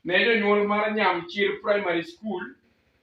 ne jonyuol mar Nyamchir Primary School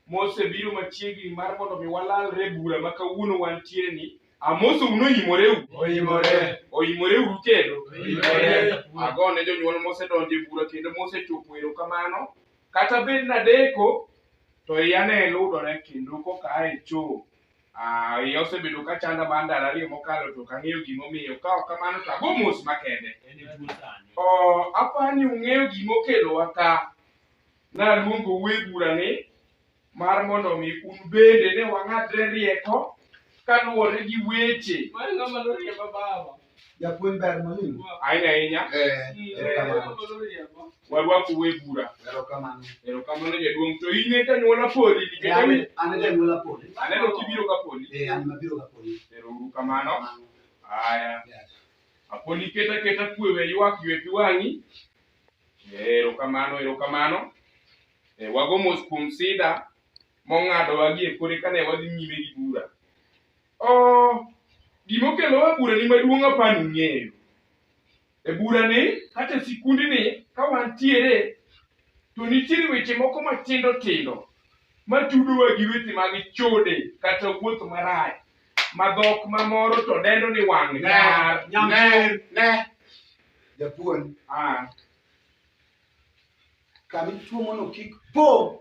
mosebiro machiegni mar mondo mi walalre bura ma kawuono wantiere ni amoso uno imoreu oimore oimore uru kendo oimore ago ne jonyuol mosedonjo e bura kendo mosechopo erokamano kata bed nadeko to iya ne ludore kendo koka ae choo Ah, iya osebedo ka chanda mar ndalo ariyo mokalo to ok ang'eyo gimomiyo. Ka ok kamano to ago mos makende. En e tuo sani. Oh, aparo ni ung'eyo gima okelowa ka. Naluongo we bura ni mar mondo mi un bende ne wang'adre rieko kaluwore gi weche Mano ng'ama noriemba baba. Japuonj ber mwalimu. Ahinya ahinya. Eh, eh erokamano. Warwaku we bura. Erokamano. Erokamano jaduong' to in e janyuola poli nikech ami an e janyuola poli. Aneno kibiro ka poli. Eh, an mabiro ka poli. Erouru kamano. Haya. Apoli keta keta kwe we ywak ywe pi wang'i. Eh, erokamano, erokamano. Eh, wago mos kuom sida mong'adowa gie kore kane wadhi nyime gi bura. Oh, gima okelowa e burani maduong' apani ung'eyo. E burani kata e sikundni ka wantiere to nitiere weche moko matindo tindo matudowa gi weche mag chode kata wuoth marach ma dhok mamoro to dendo ni wang' nyar. Nyamir. Ne. Japuonj. Ah, Kami tuomono kik po.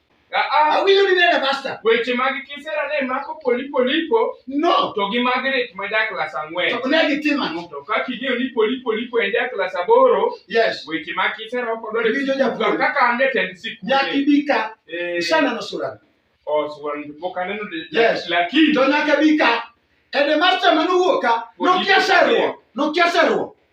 Ah, ah. Awinjo ni nene master. Weche mag kisera ne mako polipo lipo. No. To gi Margaret ma ja klas ang'wen. To ne gitimo ang'o? To ka king'eyo ni polipo lipo en ja klas aboro. Yes. Weche mag kisera ok odwar. Winjo japuonj. Kaka an jatend sikul. Nyaki bika. Eh. Sana no sura. Oh, sura ni pok aneno. Yes. Lakini. To nyaka bika. Ede master manu wuoka. Nokia seruo. Nokia seruo.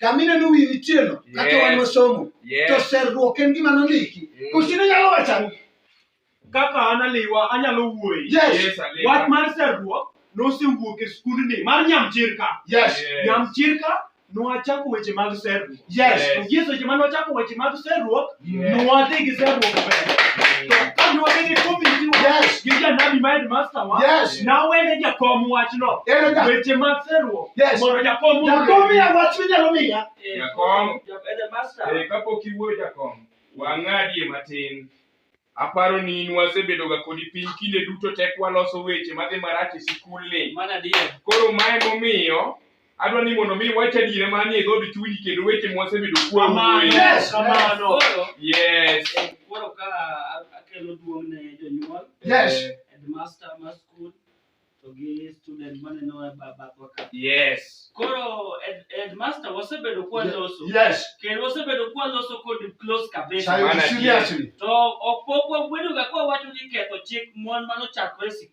kamine ni wiyi chielo kaka Yes. wan wasomo to Yes. serruok en gima nondiki Mm. kosine nyalo wacho ang'o kaka an aliwa anyalo wuoyi Yes. Yes, Alima. wach mar serruok nosewuok e skundni mar nyamchirka yes Yes. nyamchirka nwachako weche mag serruok yes Yes. to gie seche ma nwachako weche mag serruok kapok iwuoyo jakom wang'adie matin Aparo ni in wasebedoga kodi piny kinde duto tek waloso weche madhi marach e sikul ni. Koro mae momiyo Adwa ni mondo mi iwach adiera ma nie dhood chunyi kendo weche mwasebedo kuom Kamano. weyo. Yes, kamano. Koro, Yes. eh, koro ka akelo duong' ne jonyuol, Yes. Eh, headmaster mar skul, to gi student maneno e ba- bathwa ka. Yes. Koro head- headmaster wasebedo kwa loso. Yes. Kendo wasebedo kwa loso kod close kabisa. Chayo Mana seriously. To ok pok wabedoga kwa wacho ni ketho chik mon mano chakore e sikul.